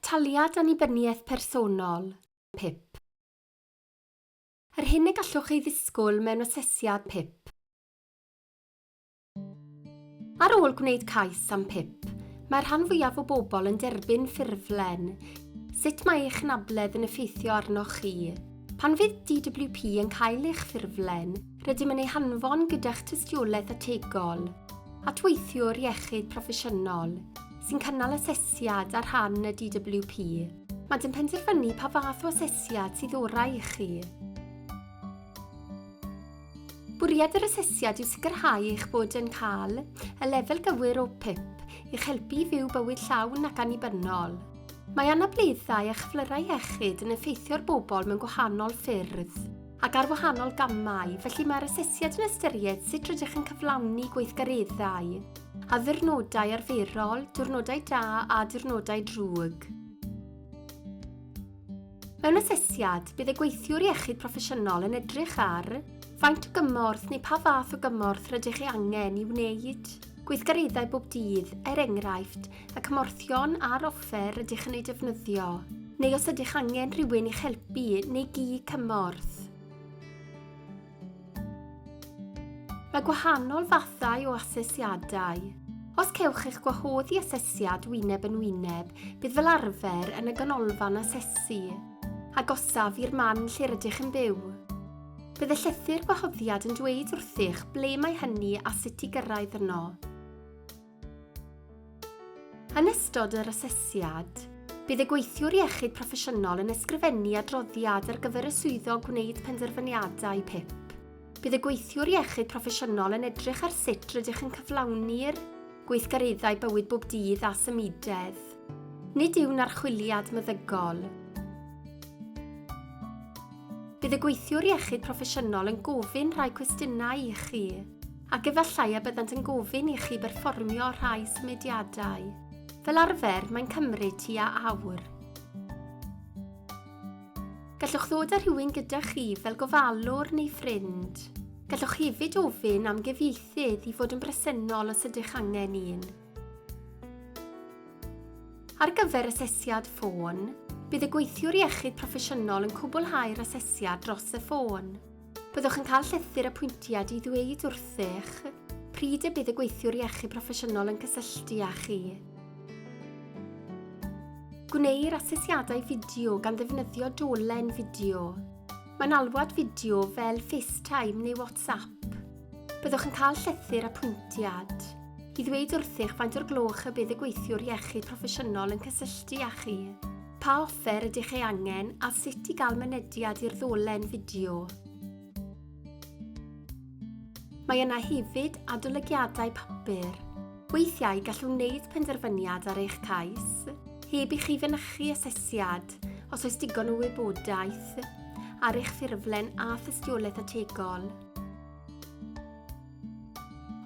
Taliad Annibyniaeth Personol, PIP. Yr hyn y gallwch ei ddisgwyl mewn asesiad PIP. Ar ôl gwneud cais am PIP, mae'r rhan fwyaf o bobl yn derbyn ffurflen Sut mae eich anabledd yn effeithio arnoch chi? Pan fydd DWP yn cael eich ffurflen, rydym yn ei hanfon gyda'ch tystiolaeth ategol. At weithiwr iechyd proffesiynol sy'n cynnal asesiad ar rhan y DWP. Maent yn penderfynu pa fath o asesiad sydd orau i chi. Bwriad yr asesiad yw sicrhau eich bod yn cael y lefel gywir o PIP i'ch helpu i fyw bywyd llawn ac annibynnol. Mae anableddau a chyflyrau iechyd yn effeithio'r bobl mewn gwahanol ffyrdd. ac ar wahanol gamau, felly mae'r asesiad yn ystyried sut rydych yn cyflawni gweithgareddau, a ddiwrnodau arferol, diwrnodau da a diwrnodau drwg. Mewn asesiad, bydd y gweithiwr iechyd proffesiynol yn edrych ar faint o gymorth neu pa fath o gymorth rydych ei angen i wneud gweithgareddau bob dydd, er enghraifft, y cymorthion a'r offer rydych yn eu defnyddio, neu os ydych angen rhywun i'ch helpu neu gi cymorth. Mae gwahanol fathau o asesiadau. Os cewch eich gwahodd i asesiad wyneb yn wyneb, bydd fel arfer yn y ganolfan asesu, agosaf i'r man lle rydych yn byw. Bydd y llythyr gwahoddiad yn dweud wrthych ble mae hynny a sut i gyrraedd yno. Yn ystod yr asesiad, bydd y gweithiwr iechyd proffesiynol yn ysgrifennu adroddiad ar gyfer y swyddog gwneud penderfyniadau PIP. Bydd y gweithiwr iechyd proffesiynol yn edrych ar sut rydych yn cyflawni'r gweithgareddau bywyd bob dydd a symudedd. Nid yw'n archwiliad meddygol. Bydd y gweithiwr iechyd proffesiynol yn gofyn rhai cwestiynau i chi. Ac efallai y byddant yn gofyn i chi berfformio rhai symudiadau. Fel arfer, mae'n cymryd tua awr. Gallwch ddod â rhywun gyda chi fel gofalwr neu ffrind. Gallwch hefyd ofyn am gyfieithydd i fod yn bresennol os ydych angen un. Ar gyfer asesiad ffôn, bydd y gweithiwr iechyd proffesiynol yn cwblhau'r asesiad dros y ffôn. Byddwch yn cael llythyr apwyntiad i ddweud wrthych pryd y bydd y gweithiwr iechyd proffesiynol yn cysylltu â chi. Gwneir asesiadau fideo gan ddefnyddio dolen fideo. Mae'n alwad fideo fel FaceTime neu WhatsApp. Byddwch yn cael llythyr apwyntiad i ddweud wrthych faint o'r gloch y bydd y gweithiwr iechyd proffesiynol yn cysylltu â chi. Pa offer ydych ei angen a sut i gael mynediad i'r ddolen fideo. Mae yna hefyd adolygiadau papur. Weithiau gallwn wneud penderfyniad ar eich cais, heb i chi fynychu asesiad, os oes digon o wybodaeth, ar eich ffurflen a thystiolaeth ategol.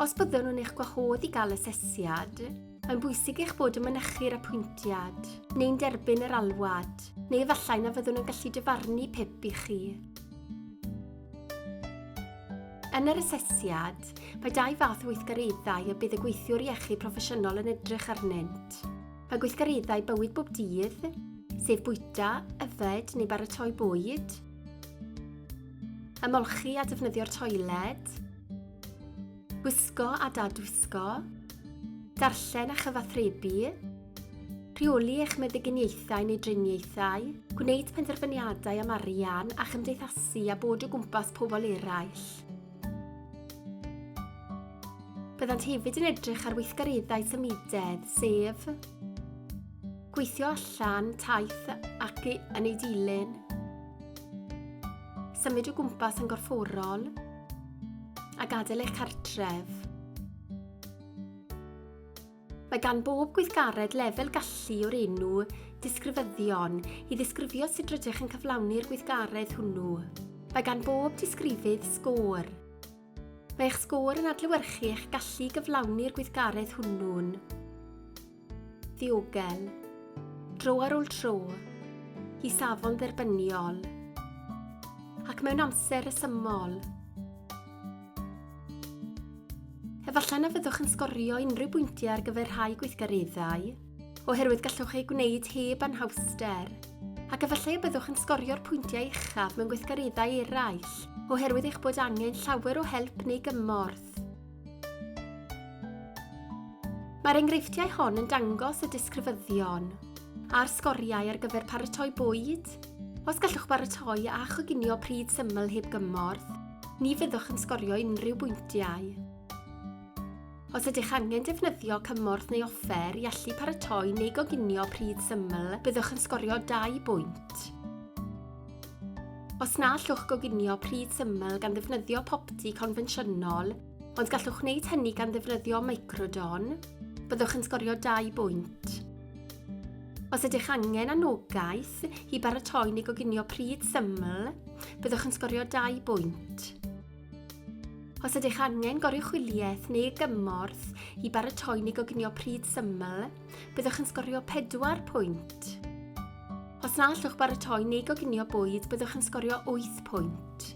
Os byddwn yn eich gwahodd i gael asesiad, Mae'n bwysig eich bod yn mynychu'r apwyntiad, neu'n derbyn yr alwad, neu efallai na fyddwn yn gallu dyfarnu pip i chi. Yn yr asesiad, mae dau fath o weithgareddau y bydd y gweithiwr iechyd proffesiynol yn edrych arnynt. Mae gweithgareddau bywyd bob dydd, sef bwyta, yfed neu baratoi bwyd, ymolchi a defnyddio'r toiled, Gwisgo a dadwisgo. Darllen a chyfathrebu. Rheoli eich meddyginiaethau neu driniaethau. Gwneud penderfyniadau am arian a chymdeithasu a bod o gwmpas pobl eraill. Byddant hefyd yn edrych ar weithgareddau symudedd, sef gweithio allan, taith ac yn ei dilyn, symud o gwmpas yn gorfforol, a gadael eich cartref. Mae gan bob gweithgaredd lefel gallu o'r enw disgrifyddion i ddisgrifio sut rydych yn cyflawni'r gweithgaredd hwnnw. Mae gan bob disgrifydd sgôr. Mae eich sgôr yn adlewyrchu eich gallu gyflawni'r gweithgaredd hwnnw'n ddiogel, tro ar ôl tro, i safon dderbyniol, ac mewn amser resymol. Efallai na fyddwch yn sgorio unrhyw bwyntiau ar gyfer rhai gweithgareddau, oherwydd gallwch ei gwneud heb anhawster, ac efallai y byddwch yn sgorio'r pwyntiau uchaf mewn gweithgareddau eraill, oherwydd eich bod angen llawer o help neu gymorth. Mae'r enghreifftiau hon yn dangos y disgrifyddion a'r sgoriau ar gyfer paratoi bwyd. Os gallwch baratoi a choginio pryd syml heb gymorth, ni fyddwch yn sgorio unrhyw bwyntiau. Os ydych angen defnyddio cymorth neu offer i allu paratoi neu goginio pryd syml, byddwch yn sgorio dau bwynt. Os na allwch goginio pryd syml gan ddefnyddio popty confensiynol, ond gallwch wneud hynny gan ddefnyddio microdon, byddwch yn sgorio 2 bwynt. Os ydych angen anogaeth i baratoi neu goginio pryd syml, byddwch yn sgorio 2 bwynt. Os ydych angen goruchwyliaeth neu gymorth i baratoi neu goginio pryd syml, byddwch yn sgorio 4 pwynt. Os na allwch baratoi neu goginio bwyd, byddwch yn sgorio 8 pwynt,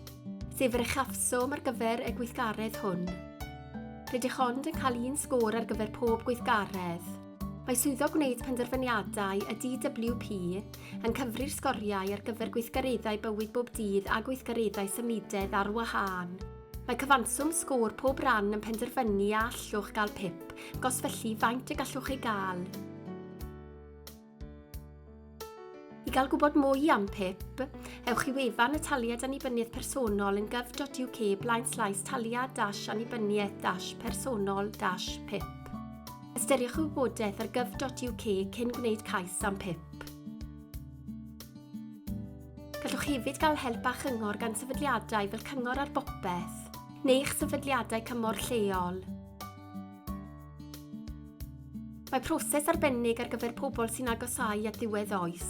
sef yr uchafswm ar gyfer y gweithgaredd hwn. Rydych ond yn cael un sgôr ar gyfer pob gweithgaredd. Mae swyddo gwneud penderfyniadau y DWP yn cyfri'r sgoriau ar gyfer gweithgareddau bywyd bob dydd a gweithgareddau symudedd ar wahân. Mae cyfanswm sgôr pob ran yn penderfynu a allwch gael pip, gos felly faint y gallwch ei gael. I gael gwybod mwy am pip, ewch i wefan y Taliad Annibyniaeth Personol yn gov.uk blaen slaes taliad dash annibyniaeth dash personol dash pip. Ystyriwch y wybodaeth ar gov.uk cyn gwneud cais am pip. Gallwch hefyd gael help a chyngor gan sefydliadau fel Cyngor ar Bopeth neu eich sefydliadau cymorth lleol. Mae proses arbennig ar gyfer pobl sy'n agosau at ddiwedd oes.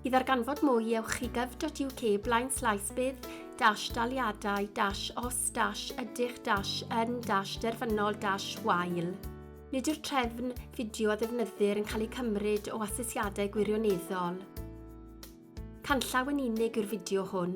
I ddarganfod mwy, ewch i gov.uk blaen slaes bydd dash daliadau dash os dash ydych dash yn dash derfynol dash wael. Nid yw'r trefn fideo a ddefnyddir yn cael eu cymryd o asesiadau gwirioneddol. Canllaw yn unig yw'r fideo hwn.